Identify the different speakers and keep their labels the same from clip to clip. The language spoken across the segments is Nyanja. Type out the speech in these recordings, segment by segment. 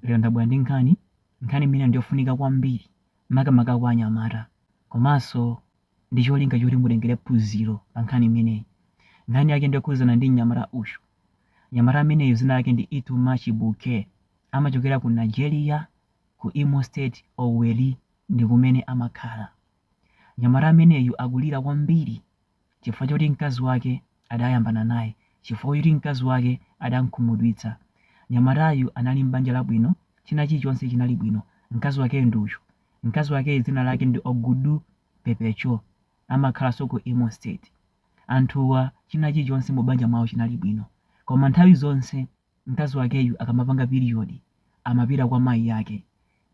Speaker 1: Lero ndabwera ndi nkhani, nkhani imene ndiyofunika kwambiri makamaka kwa anyamata komanso ndi cholinga choti mutengere phunziro pa nkhani imeneyi. Nkhani yake ndiyokhudzana ndi mnyamata uyu. Mnyamata ameneyu dzina lake ndi Ituma Chibuke. Amachokera ku Nigeria, ku Imo State, Owerri ndi kumene amakhala. Mnyamata ameneyu akulira kwambiri chifukwa choti mkazi wake adayambana naye, chifukwa choti mkazi wake adamkhumudwitsa. Mnyamatayu anali m'banja labwino, china chilichonse chinali bwino. Mkazi wakeyo ndi uyu. Mkazi wakeyo dzina lake ndi Ogudu Pepecho, amakhalanso ku Imo State. Anthuwa china chilichonse mubanja mwawo chinali bwino. Koma nthawi zonse Mkazi wakeyu akamapanga period amapita kwa mayi ake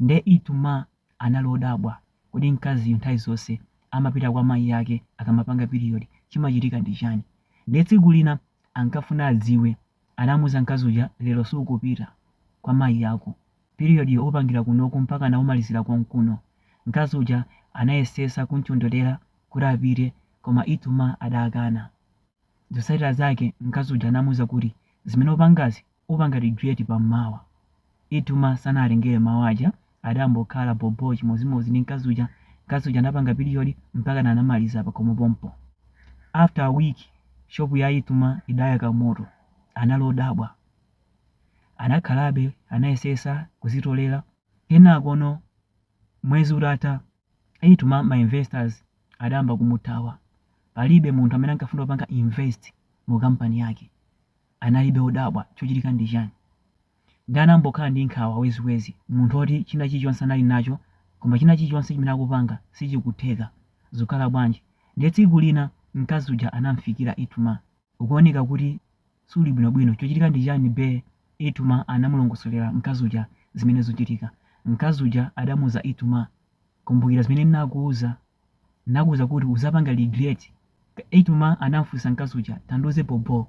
Speaker 1: nde Ituma anali odabwa kodi mkaziyu nthawi zonse amapita kwa mayi ake akamapanga period chimachitika ndi chani nde tsiku lina ankafuna adziwe anamuuza mkazi uja lero sukupita kwa mayi ako period yo upangira konkuno mpakana umalizira konkuno mkazi uja anayesesa kumchonderera kuti apite koma Ituma adakana Zotsatira zake mkazi uja anamuuza kuti zimene upangazi upanga regret pammawa. Ituma sanawatengere mawu aja adangokhala bho bho chimodzimodzi ndi mkazi uja. Mkazi uja anapanga period mpakana anamaliza pakhomo pompo. After a week shop ya Ituma idayaka moto. Anali odabwa. Anakhalabe anayesesa kuzitolera. Kenakono mwezi utatha. Ituma, ma investors adayamba kumuthawa. Palibe munthu amene ankafuna kupanga invest mu kampani yake. Analibe odabwa chochitika ndi chani. Nde anangokhala ndi nkhawa weziwezi. Munthu oti china chilichonse anali nacho koma china chilichonse chimene akupanga sichikutheka. Zikukhala bwanji? Ndiye tsiku lina mkazi uja anam'fikira Ituma. Ukuoneka kuti suli bwinobwino. Chochitika ndi chani bae? Ituma anamulongosolera mkazi uja zimene zikuchitika. Mkazi uja adamuuza Ituma, Kumbukira zimene ndinakuuza? Ndinakuuza kuti udzapanga regret. Ituma anamfunsa mkazi uja, Tandiuze bhobho,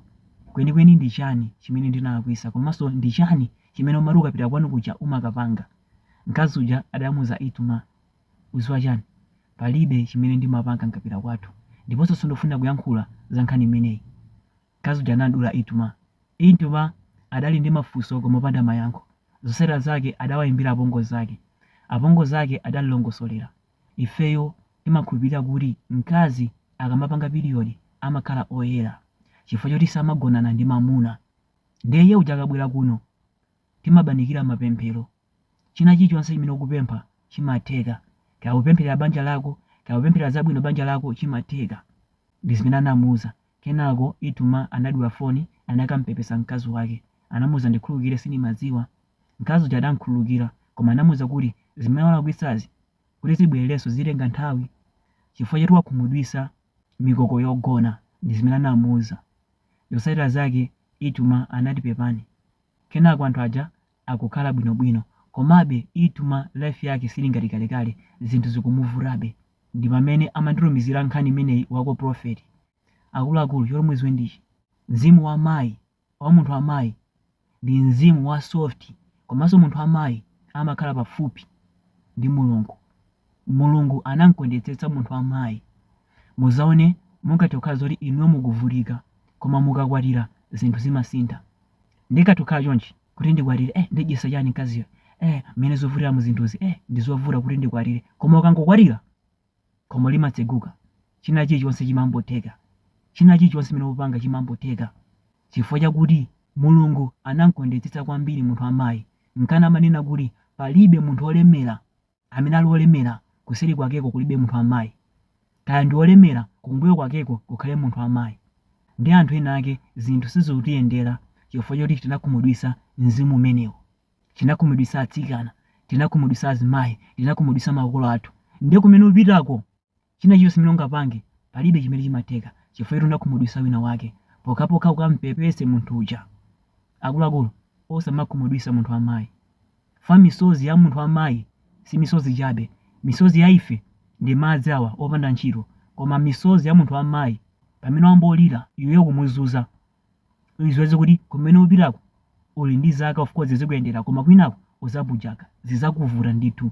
Speaker 1: kwenikweni ndi chani chimene ndinalakwisa komanso ndi chani chimene umati ukapita kwanu kuja umakapanga? Mkazi uja adamuuza Itumah. Udziwa chani? Palibe chimene ndimapanga nkapita kwathu ndiponso sindifuna kuyankhula za nkhani imeneyi. Mkazi uja anamdula Ituma. Ituma adali ndi mafunso koma opanda mayankho. Zotsatira zake adawayimbira apongozi ake. Apongozi ake adamlongosolera. Ifeyo timakhulupilira kuti mkazi akamapanga period amakhala oyera chifukwa choti samagonana ndi mamuna. Ndiye iye uja akabwera kuno timabanikira mapemphero. China chilichonse chimene ukupempha chimatheka. Kaya ukupempherera banja lako, kaya ukupempherera zabwino banja lako chimatheka. Ndi zimene anamuuza. Kenako Ituma anadula foni anakamupepesa mkazi wake. Anamuuza ndikhululukire sindimadziwa. Mkazi uja adamukhululukira koma anamuuza kuti zimene walakwisazi kuti zibwererenso zitenga nthawi chifukwa choti wakhumudwitsa mikoko yogona. Ndi zimene anamuuza. Zotsatira zake Ituma anati pepani. Kenako anthu aja akukhala bwinobwino komabe Ituma life yake siili ngati kalekale zinthu zikumuvutabe ndi pamene amanditumizira nkhani imeneyi wako prophet akuluakulu choti mudziwe ndichi mzimu wa mayi wa munthu wa mayi ndi mzimu wa soft komanso munthu wa mayi amakhala pafupi ndi mulungu mulungu anamkondetsetsa munthu wa mayi muzaone mungathe kukhala zoti inuyo mukuvutika koma mukakwatira zinthu zimasintha ndikakhala chonchi kuti ndikwatire eh ndidyesa chani mkaziyo eh mmene zikuvutira mu zinthuzi eh ndizovuta kuti ndikwatire koma ukangokwatira khomo limatseguka china chilichonse chimambotheka china chilichonse chimene upanga chimambotheka chifukwa chakuti mulungu anamkondetsetsa kwambiri munthu wa mayi nkana amanena kuti palibe munthu olemera amene ali wolemera kuseri kwakeko kulibe munthu wa mayi, kaya ndi wolemera kumbuyo kwakeko kukhale munthu wa mayi, ndiye anthu ena ake zinthu sizikutiyendera chifukwa choti tinakhumudwitsa mzimu umenewu, tinakhumudwitsa atsikana, tinakhumudwitsa azimayi, tinakhumudwitsa makolo athu, ndiye kumene upitako China chilichonse chimene ungapange palibe chimene chimatheka chifukwa choti unakhumudwitsa wina wake pokhapokha ukamupepese munthu uja. Akuluakulu osamakhumudwitsa munthu wa mayi fwa misozi ya munthu wa mayi si misozi chabe misozi ya ife ndi madzi awa opanda ntchito koma misozi ya munthu wa mayi pamene wangolira iweyo ukumuzunza uziwe kuti kumene upitako uli ndi zaka of course zikuyendera koma kwinako uzabujaka zizakuvuta ndithu.